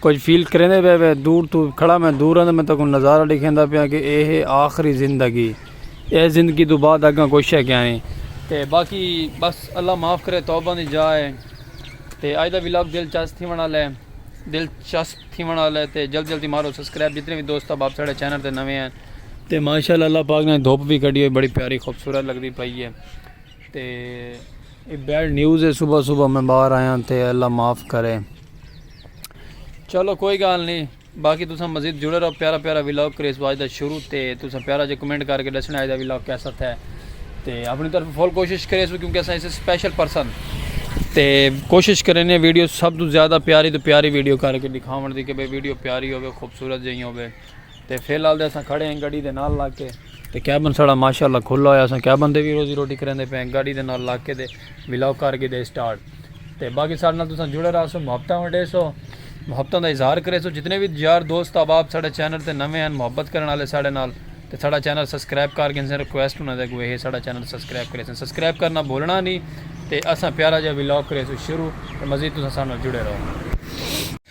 کچھ فیل کریں دے بے دور تو کھڑا میں دور ہوں میں تکوں نظارہ دکھیں دا پیا کہ اے ہے آخری زندگی اے زندگی تو بعد اگاں کوئی شے کیا نہیں تے باقی بس اللہ معاف کرے توبہ نہیں جائے تے آج دا ویلاگ دلچسپ تھی ونا لے دلچسپ تھی ونا لے تے جلد جلدی مارو سبسکرائب جتنے بھی دوست اب آپ ساڑے چینل تے نوے ہیں تے ماشاءاللہ اللہ پاک نے دھوپ بھی کڑی ہوئی بڑی پیاری خوبصورت لگ دی پائی ہے تے اے بیڈ نیوز ہے صبح صبح میں باہر آیا ہاں تے اللہ معاف کرے چلو کوئی گال نہیں باقی تساں مزید جڑے رہو پیارا پیارا ویلاگ کریس باج دا شروع تے تساں پیارا جے کمنٹ کر کے دسنا ہے دا ویلاگ کیسا تھا ہے تے اپنی طرف فل کوشش کرے سو کیونکہ اساں اسے سپیشل پرسن تے کوشش کرے نے ویڈیو سب تو زیادہ پیاری تو پیاری ویڈیو کر کے دکھاون دی کہ بے ویڈیو پیاری ہوے خوبصورت جہی ہوے تے فی الحال دے اساں کھڑے ہیں گاڑی دے نال لگ کے تے کیبن ساڑا ماشاءاللہ کھلا ہویا اساں کیبن دے وی روزی روٹی کریندے پئے ہیں گاڑی دے نال لگ کے تے ولاگ کر گھدے اسٹارٹ تے باقی ساڑے نال تساں جڑے رہسو محبتاں ونڈے سو محبتاں دا اظہار کرے سو جتنے وی یار دوست احباب ساڑے چینل تے نویں ہیں محبت کرن والے ساڑے نال تے ساڑا چینل سبسکرائب کر گھنسن ریکویسٹ انہاں دے اگے ہے ساڑا چینل سبسکرائب کرے سن سبسکرائب کرنا بھولنا نہیں تے اساں پیارا جا ولاگ کرے سو شروع تے مزید تساں ساڑے نال جڑے رہو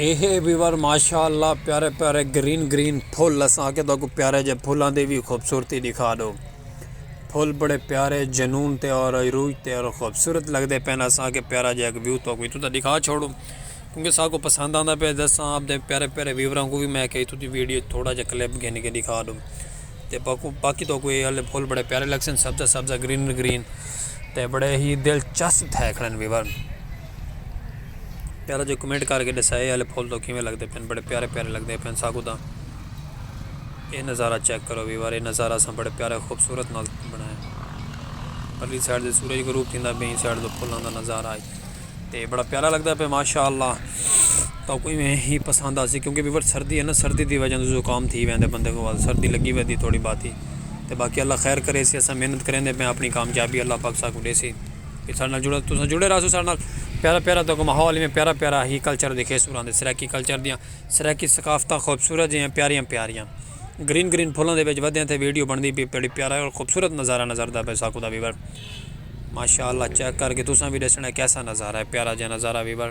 اے ہے ویور ماشاءاللہ پیارے پیارے گرین گرین پھول اساں کے تاکو پیارے جے پھولاں دی بھی خوبصورتی دکھا دو پھول بڑے پیارے جنون تے اور روح تے اور خوبصورت لگدے پین اساں کے پیارا جے ایک ویو تو کوئی تو دکھا چھوڑو کیونکہ سا کو پسند آندا پے دساں اپ دے پیارے پیارے ویوراں کو بھی میں کہی تو دی ویڈیو تھوڑا جے کلپ گھن کے دکھا دو تے باکو باقی تو کوئی اے پھول بڑے پیارے لگسن سبزہ سبزہ گرین گرین تے بڑے ہی دلچسپ تھے کھڑن ویور پیارا جو کمنٹ کر کے ڈسا یہ والے پھول تو کیویں لگتے پین بڑے پیارے پیارے لگتے پین ساکو دا یہ نظارہ چیک کرو بھی وارے نظارہ اساں بڑے پیارے خوبصورت نال بنایا پرلی سائڈ دے سورج غروب تھیندا بین سائڈ دے پھولاں دا نظارہ آئی تے بڑا پیارا لگتا پہ ماشاءاللہ تو کوئی میں ہی پسند آسی کیونکہ بھی بڑا سردی ہے نا سردی دی وجہ سے زکام تھی ویندے بندے کو سردی لگی ویندی تھوڑی باتی تے باقی اللہ خیر کرے سی اساں محنت کریں دے میں اپنی کامیابی اللہ پاک ساکو دے سی کہ ساڈے نال جڑو تساں جڑے رہسو ساڈے نال پیارا پیارا تہاکوں ماحول ایویں پیارا پیارا ہی کلچر دکھے سو راں سرائیکی کلچر دیاں سرائیکی ثقافتاں خوبصورت جیاں پیاریاں پیاریاں گرین گرین پھلاں دے وچ ودیاں تے ویڈیو بݨدی پئی بڑی پیارا اور خوبصورت نظارہ نظر آندا پئے ساکوں دا ویور ماشاء اللہ چیک کر کے تساں وی ݙسݨا کیسا نظارہ ہے پیارا جیاں نظارہ ویور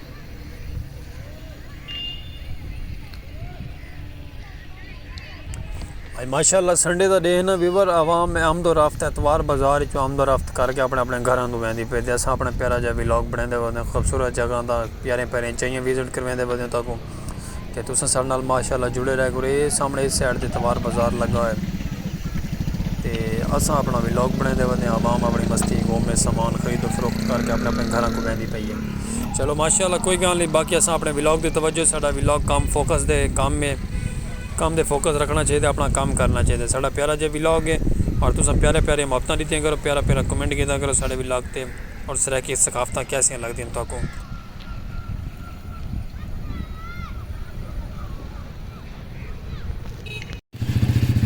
آج ماشاءاللہ سنڈے دا ڈے نا ویور عوام آمد و رفت اتوار بازار چو آمد و رفت کر کے اپنے اپنے گھراں دو ویندی پے دے اساں اپنے پیارا جا ویلاگ بنیندے ودے خوبصورت جگہ دا پیارے پیارے چائیاں وزٹ کر ویندے ودے تاکوں کہ تساں ساڑے نال ماشاء اللہ جڑے رہ کرو اے سامنے اس سائڈ تے توار بازار لگا ہوئے تے اساں اپنا ولاگ بنے دے ودے ہیں عوام اپنی مستی گھوم میں سامان خرید و فروخت کر کے اپنے اپنے گھراں کو بیندی پئی ہے چلو ماشاء اللہ کوئی گال نہیں باقی اساں اپنے ولاگ تے توجہ ساڑا ولاگ کام فوکس دے کام میں کام دے فوکس رکھنا چاہیے دے اپنا کام کرنا چاہیے دے ساڑا پیارا جے ولاگ ہے اور تساں پیارے پیارے محبتاں دیتیاں کرو پیارا پیارا کمنٹ کیتا کرو ساڑے ولاگ تے اور سرائے کی ثقافتاں کیسیاں لگ دیں تو کو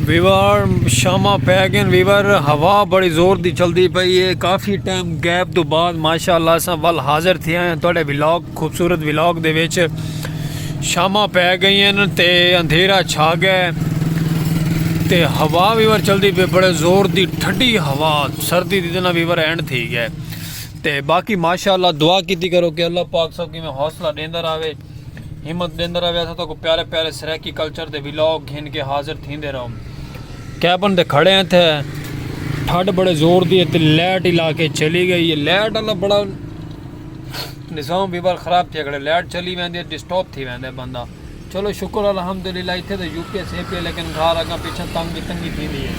ویور شامہ پہ گئے ویور ہوا بڑی زور دی چلدی پئی ہے کافی ٹائم گیپ تو بعد ماشاءاللہ اساں ول حاضر تھیا ہیں تہاڈے ولاگ خوبصورت ولاگ دے وچ شامہ پہ گئی ہیں تے اندھیرا چھا گئے تے ہوا ویور چلدی پئی بڑے زور دی ٹھڈی ہوا سردی دی دنہ ویور اینڈ تھی گئے تے باقی ماشاءاللہ دعا کیتی کرو کہ اللہ پاک سب کیویں حوصلہ ڈیندا راوے ہمت ڈیندا راوے اساں تاکو پیارے پیارے سرائیکی کلچر دے ولاگ گھن کے حاضر تھیندے رہوں کیبن دے کھڑے ہیں تھے ٹھڈ بڑے زور دی تے لیٹ ہی لا کے چلی گئی ہے لیٹ اللہ بڑا نظام بھی بار خراب تھی کھڑے لیٹ چلی ویندے ڈسٹاپ تھی ویندے بندہ چلو شکر الحمدللہ اتھے تاں یو پی ایس ہے پی لیکن گھر اگاں پچھاں تنگ دی تنگی تھیندی ہے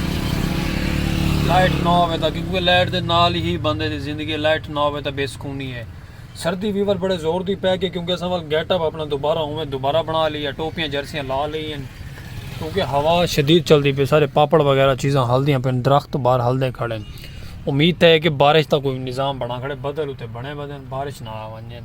لائٹ نہ ہووے تاں کیونکہ لائٹ دے نال ہی بندے دی زندگی ہے لائٹ نہ ہووے تاں بے سکونی ہے سردی ویور بڑے زور دی پے گئی کیونکہ اساں ول گیٹ اپ اپنا دوبارہ اوویں دوبارہ بنا لئی ہے ٹوپیاں جرسیاں لا لئی ہیں کیونکہ ہوا شدید چلدی پی سارے پاپڑ وغیرہ چیزاں ہلدیاں پن درخت بار ہلدے کھڑے امید ہے کہ بارش دا کوئی نظام بنا کھڑے بدل اتے بنے بدن بارش نہ آ ونجن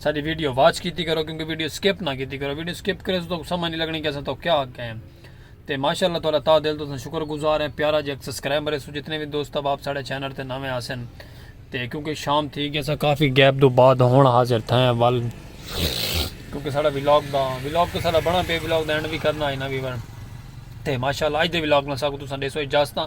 ساڈی ویڈیو واچ کیتی کرو کیونکہ ویڈیو سکپ نہ کیتی کرو ویڈیو سکپ کرے تو سمجھ نہیں لگنی کہ اساں تو کیا آکھے ہیں تے ماشاءاللہ تعالی تا دل تو شکر گزار ہیں پیارا جی ایک سبسکرائبر ہے جتنے بھی دوست اب آپ ساڈے چینل تے نویں آسن تے کیونکہ شام تھی گیا سا کافی گیپ دو بعد ہون حاضر تھا ہیں وال کیونکہ ساڑا ویلاگ دا ویلاگ تو ساڑا بنا پہ ویلاگ دا اینڈ بھی کرنا ہے نا ویور تے ماشاءاللہ اج دے ویلاگ نہ ساکو تو سن دے سو اجازتاں